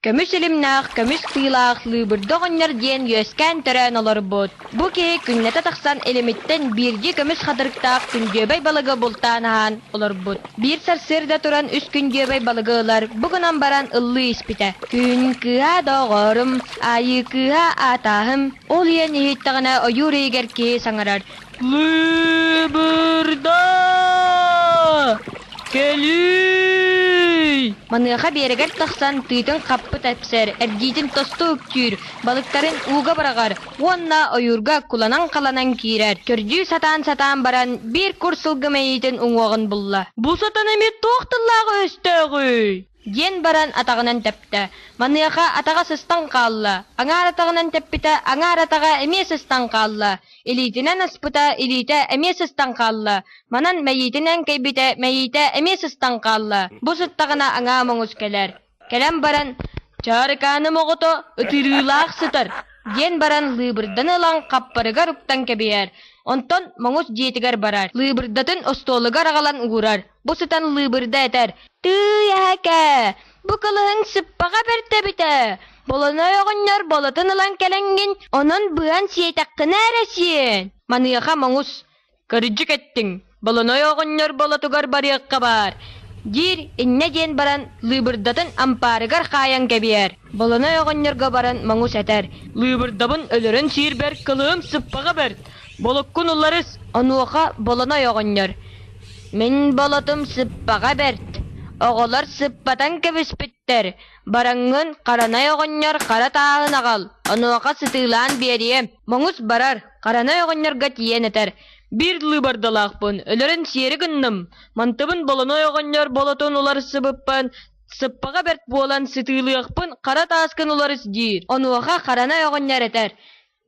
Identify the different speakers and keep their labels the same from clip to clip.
Speaker 1: Көмүс илимнээх, көмүс тыылаах Лыыбырда оҕонньор диэн үөскээн төрөөн олорбут. Бу киһи күннэтэ тахсан илимиттэн биирдии көмүс хатырыктаах күндүөбэй балыгы бултаан аһаан олорбут. Биир сарсыарда туран үс күндүөбэй балыгы ылар, бу гынан баран ыллыы испитэ. Күн кыыһа доҕорум, аайыы кыыһа аатааһым, Ол ийэн иһиттэҕинэ ойуур иһигэр киһи саҥарар. Кыбырда! Кэлиий! Маныаха биэрэгэр тахсан тыытын хаппыт эпсэр, эрдиитин тосту үктүүр, балыктарын ууга быраҕар уонна ойуурга куланан-халанан киирэр. Көрдүү сатаан-сатаан баран, биир кур сылгы мэйиитин уҥуоҕун булла. Бу сатана эмиэ туох тыллааҕы-өстөөҕүй? Диэн баран атаҕынан тэптэ. Маныаха атаҕа сыстан хаалла, аҥаар атаҕынан тэппитэ, аҥаар атаҕа эмиэ сыстан хаалла, илиитинэн аспыта, илиитэ эмиэ сыстан хаалла, манан мэйиитинэн кэйбитэ, мэйиитэ эмиэ сыстан хаалла. Бу сыттаҕына аҥаа моҥус кэлэр. Кэлэн баран, «Чаарыкааным оҕото, ытырыылаах сытар!» диэн баран лыыбырданы ылан хаппарыгар уктан кэбиһэр, онтон моҥус дьиэтигэр барар, лыыбырдатын остуолугар аҕалан уурар. Бу сытан лыыбырда этэр, «Тыый, эһэкээ, бу кылыһын сыппаҕа бэртэбитэ, болоной оҕонньор болотун ылан кэлэҥҥин, онон быан сиэтэххинэ эрэ сиэн. Маныаха моҥус, кырдьык эттиҥ, болоной оҕонньор болотугар барыахха баар» диир иннэ диэн баран лыыбырдатын ампаарыгар хаайан кэбиһэр. Болоной оҕонньорго баран моҥус этэр, «Лыыбырдабын өлөрөн сиирбэр кылыһым сыппаҕа бэрт, болоккун уларыс, онуоха болоной оҕонньор». Мин болотум сыппаҕа бэрт, оҕолор сыппатан кэбиспиттэр, бараҥҥын Харанай оҕонньор хара тааһын аҕал, онуоха сытыылаан биэриэ, моҥус барар, Харанай оҕонньорго тиийэн этэр, «Биир лыыбардалаахпын, өлөрөн сиэри гынным, мантыбын Болонуой оҕонньор болотун уларсыбыппын, сыппаҕа бэрт буолан сытыылыахпын хара тааскын уларыс» диир, онуоха Харанай оҕонньор этэр,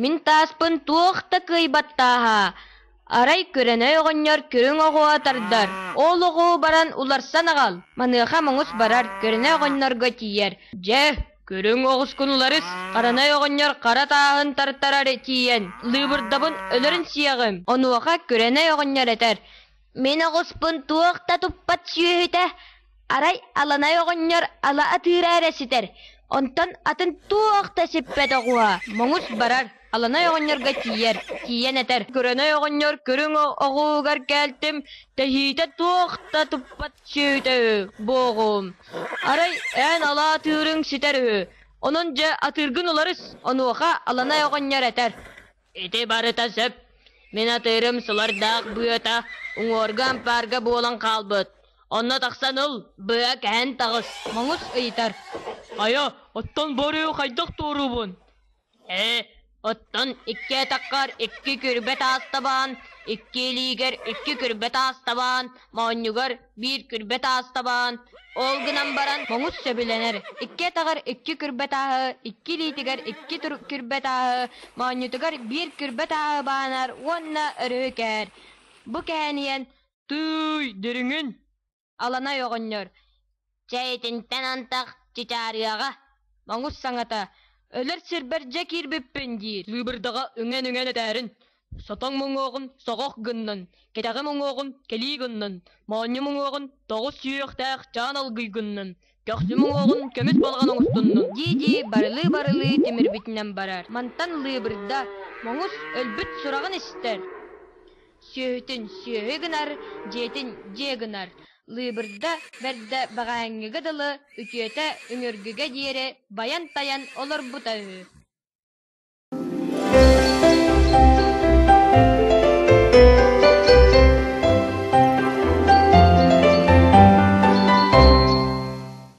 Speaker 1: Мин тааспын туох да кыайбаттааһа, арай көрөнөй оҕонньор көрүҥ оҕоҕо тардар, ол оҕо баран уларсан аҕал, маныаха муҥус барар, көрөнөй оҕонньорго тиийэр, дьэ, көрүҥ оҕускун уларыс, харанай оҕонньор хара тааһын тартарары тиийэн, лыыбырдабын өлөрөн сиэҕим, онуоха көрөнөй оҕонньор этэр: Мин оҕуспун туох да туппат сүөһүтэ, арай Аланай оҕонньор ала атыыра эрэ ситэр, онтон атын туох да сиппэт оҕуһа. Моҥус барар, Аланай оҕонньорго тиийэр, тиийэн этэр, Көрөнөй оҕонньор көрүҥ оҕуһугар кэлтим, тэһиитэ туох да туппат сүөһүтэ үһү, буоҕум. Арай эн ала атыырыҥ ситэр үһү, онон дьэ атыыргын уларыс, онуоха Аланай оҕонньор этэр, Ити барыта сөп. Мин атыырым сылардаах быата уҥуорга-ампаарга буолан хаалбыт. Онно тахсан ыл, быа кэһэн таҕыс. Моҥус ыйытар. Хайа, оттон бу арыйы хайдах туоруубун? Ээ, оттон икки атаххар икки күрбэ таас табаан, икки илиигэр икки күрбэ таас табаан, Моонньугар биир күрбэт аас табаан, ол гынан баран моҥус сөбүлэнэр. Икки атаҕар икки күрбэт ааһы, икки илиитигэр икки тур күрбэт ааһы, моонньутугар биир күрбэт ааһы баанар уонна өрүһү кэһэр. Бу кэһэн иһэн «Тыый, дириҥин!» Аланай оҕонньор Чэ, итинтэн антах чычаарыаҕа. Моҥус саҥата «Өлөр сирбэр дьэ киирбиппин» диир. Лыыбырдаҕа үҥэн-үҥэн этээрин. Сотоҥ муҥуоҕун соҕох гыннын, кэтэҕим уҥуоҕун кэлии гыннын, моонньум уҥуоҕун тоҕус сүһүөхтээх чаан алгый гыннын, көхсүм уҥуоҕун көмүс балаҕан оҥостуннун. дии-дии барылыы-барылыы тимирбитинэн барар. Мантан лыыбырда Моҥус өлбүт сураҕын истэр. Сүөһүтүн сүөһү гынар, дьиэтин дьиэ гынар. Лыыбырда бэрдэ баҕайыҥҥыга дылы үтүөтэ үҥүргүгэ диэри байан-тайан олорбута үһү